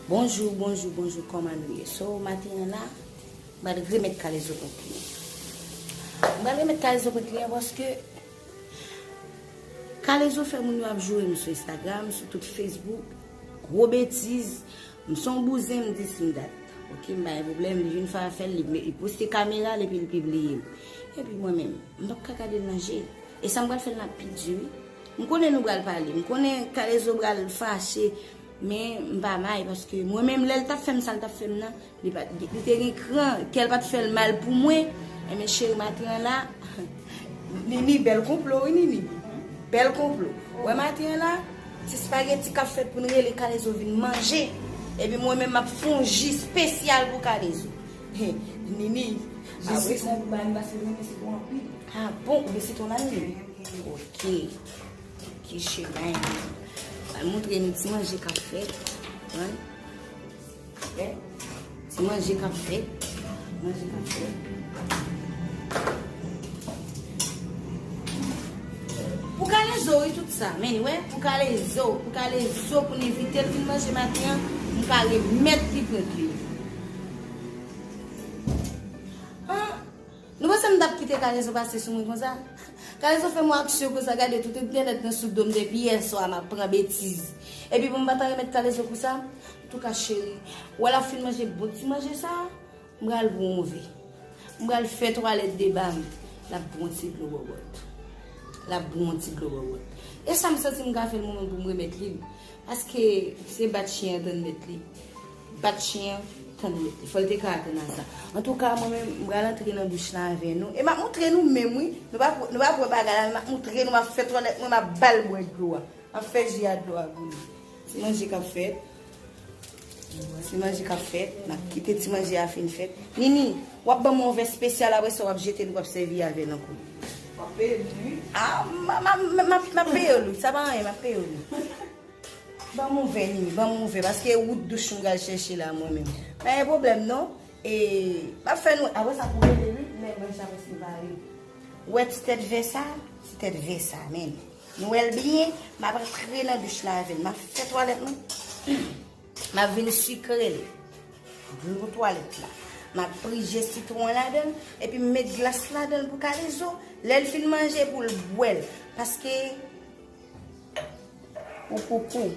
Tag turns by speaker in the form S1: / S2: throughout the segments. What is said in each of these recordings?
S1: Bonjou, bonjou, bonjou, kòman nou ye? So, maten an la, M pral remet kalezo kont li an. M pral remet kalezo kont li an paske kalezo fè moun yo ap joure m sou Instagram, sou tout Facebook, gwo betiz, m se yon bouzen m di sim dat. Ok m pa gen pwoblèm, li vin fè afè l, li poste kamera l epi li pibliye l. Epi mwen menm, m pap ka gade l nan je. E sa m pral fè l nan pi di wi. M konnen nou pral pale, m konnen kalezo pral fache men m pa may paske mwen menm lè l tap fè m sa l tap fè m nan. Li te gen kran, kèl pat fèl mal pou mwen, enben cheri maten an la, Nini bèl konplo wi Nini, bèl konplo, ou wè maten an la, ti spaghetti kap fèt poun rele kalezo vin manje, epi mwen menm map fè yon ji spesyal pou kalezo, Nini, a bon, ou gen sitwon la Nini, ok, ok cheri, al montre nou ti manje kap fèt, an. Ti manje kap fèt. Manje kap fèt. Pou kale zo yi tout sa. Men wè. Pou kale zo. Pou kale zo pou ni vite. Pou manje mati an. Pou kale met li pou li. An. Nou wè se m tap kite kale zo pase sou mwen kon sa. Kale zo fè mwen aksyon kon sa. Gade tout entènet nan sou do m depi yè swa. M ap pran betiz. Epi pou m pata remet kale zo pou sa. Antouka cheri, wè lap fin manje bon ti manje sa, m pral bwonze. M pral fè twalèt deba m. Lap bwè yon ti dlo bòbòt. Lap bwè yon ti dlo bòbòt. E sa m santi m ka fè l mwen menm pou m remèt li l. Paske se bat chyen an tann mèt li. Bat chyen an tann mèt li. Fò l te ka atann a sa. Antouka mwen menm, m pral antre nan douch lan avè nou. E m ap montre nou menm wi. Nou pa p, nou pa p wè bagay la men m ap montre nou. M ap fè twalèt mwen, m ap ba l bwè dlo a. M ap fè ji a dlo a boule. Ti manje kap fèt. Ti manje kap fèt. Nap kite ti manje a fin fèt. Nini, wap banm yon vè spesyal apre sa wap jete li wap sèvi avèl ankò. Wap peyem li wi. Ah, map peyew li, sa pa anyen, map peyew li. Banm yon vè Nini, banm yon vè paske e wout douch m pral chèche la mwen menm. Pa gen pwoblèm non. E, map fè nou, apre sa pou rele wi, men manje a preske pare. Wè ti tèt vè sa, ti tèt vè sa, men. Nou wèl byen, map antre nan douch la avèl, map fè twalèt mwen, map vin sikrel, dlo twalèt la, map pri je sitwon ladanl, epi m met glas ladanl pou kalezo, lèl fin manje poul bwèl, paske pou koukou.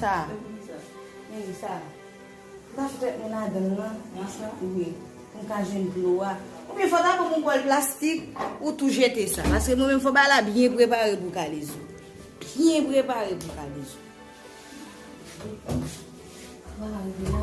S1: Sa. Men li sa. Ou ka fèt men ladan l lan. Manch lan. Wi. Pou m ka jwenn dlo a. Oubyen fò ta banm yon bòl plastik. Ou tou jete sa. Paske mwen menm fò bagay la byen prepare pou kalezo. Byen prepare pou kalezo. Sa va rive la.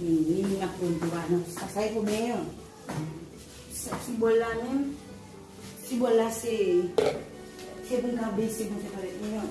S1: Mwen ap pon di wane. Sa sa e pou mwen yon. Sa ti bol la men. Ti bol la se. Se pou mwen ka bese pou mwen fè pale mwen yon.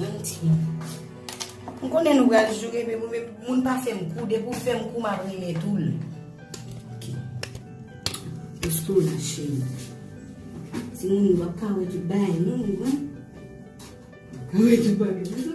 S1: Manti. M konnen nou pral joure men pou moun pa fè m kou, depi ou fè m kou m ap renmen tou l. Ok. Eske w la cheri? Ti moun yo ap ka wè tout bagay non nou wè. Wè tout bagay.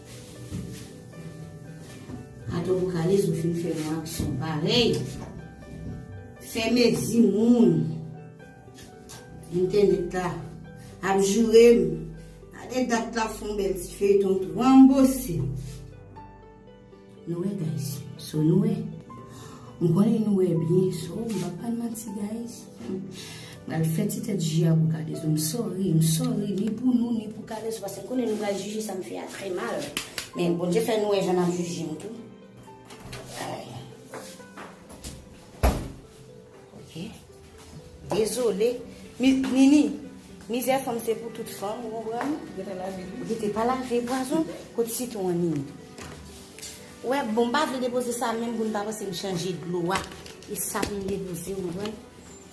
S1: Kato vokalis ou fin fè yon aksyon parèy fè mezi moun entènèt la ap jourem gade dat lap fon bèl ti feyton tou anbo se Nou wè guys so nou wè m konnen nou wè byen so m pap pran manti guys m pral fè ti tèt ji a pou kalezo m sorry m sorry ni pou nou ni pou kalezo paske m konnen nou pral jije sa m fè a trè mal men Bondye fè nou wè jan nap jije m tou ok. Dezole Nini Mizè fanm se pou tout fanm ou konprann Rete pa lave pwazon kot sitwon an Nini Ou wè bon m pa vle depoze sa menm pou n pa panse m chanje dlo a e sa pou m depoze ou konprann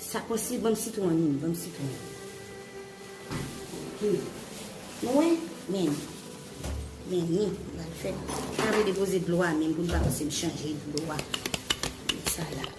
S1: sa konsi banm sitwon an Nini banm sitwon an Nini Nou wè men men Nini m pa vle depoze dlo a menm pou n pa panse m chanje dlo a Sa la.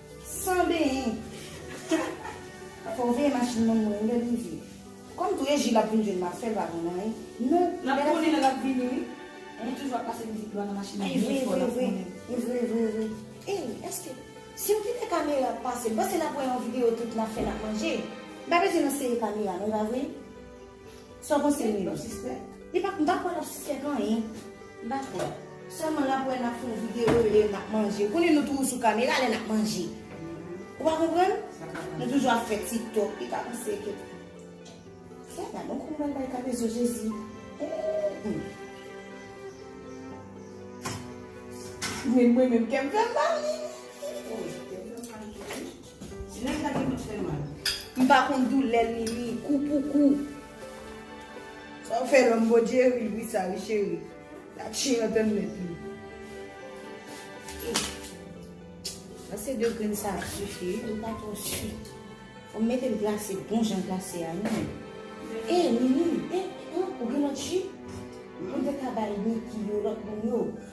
S1: San benyen. Humm. Fòw veye machin moun mwen wi lèl rive. Kòm tou e jil ap vin jwenn map fèl pa konn anyen. Nou. Nap konnen lè lap
S2: vini wi. Li toujou ap pase mizik lwa nan machin li byen fò nap konnen. Evre evre evre
S1: evre. Ey eske Siw kite kamera pase ou panse nap wè yon video tout nap fè nap manje. M pa bezwen nan sere kamera non epa vre. Sa w panse Milo? Mwen pa sispèk. Li pa, m pa kwè l ap sispèk anyen. M pa kwè. Sèlman l ap wè n ap fè yon videyo lè n ap manje. Ou konnen nou toujou sou kamera lè n ap manje. Ou pa konprann? Nou toujou ap fè tiktok. Li ka panse ke Sa gad on koman l bay kalezo Jezi. Eeii. Mwen menm kè m fè m mal.
S2: Ti nèg sa gen tout fè mal. M pa konn
S1: doulè l Mimi, kou pou kou.
S2: Sa w fè lòm bon Jerry ri sa wi cheri. La chen an tann mèt li. Glase
S1: 2 grenn sa ap sifi wi li pa twò su. Fò m mete l glase bon jan glase a wi. E Mimi, e ou gen lòt ju? Ou te ka bay Niki yo, lòt moun yo.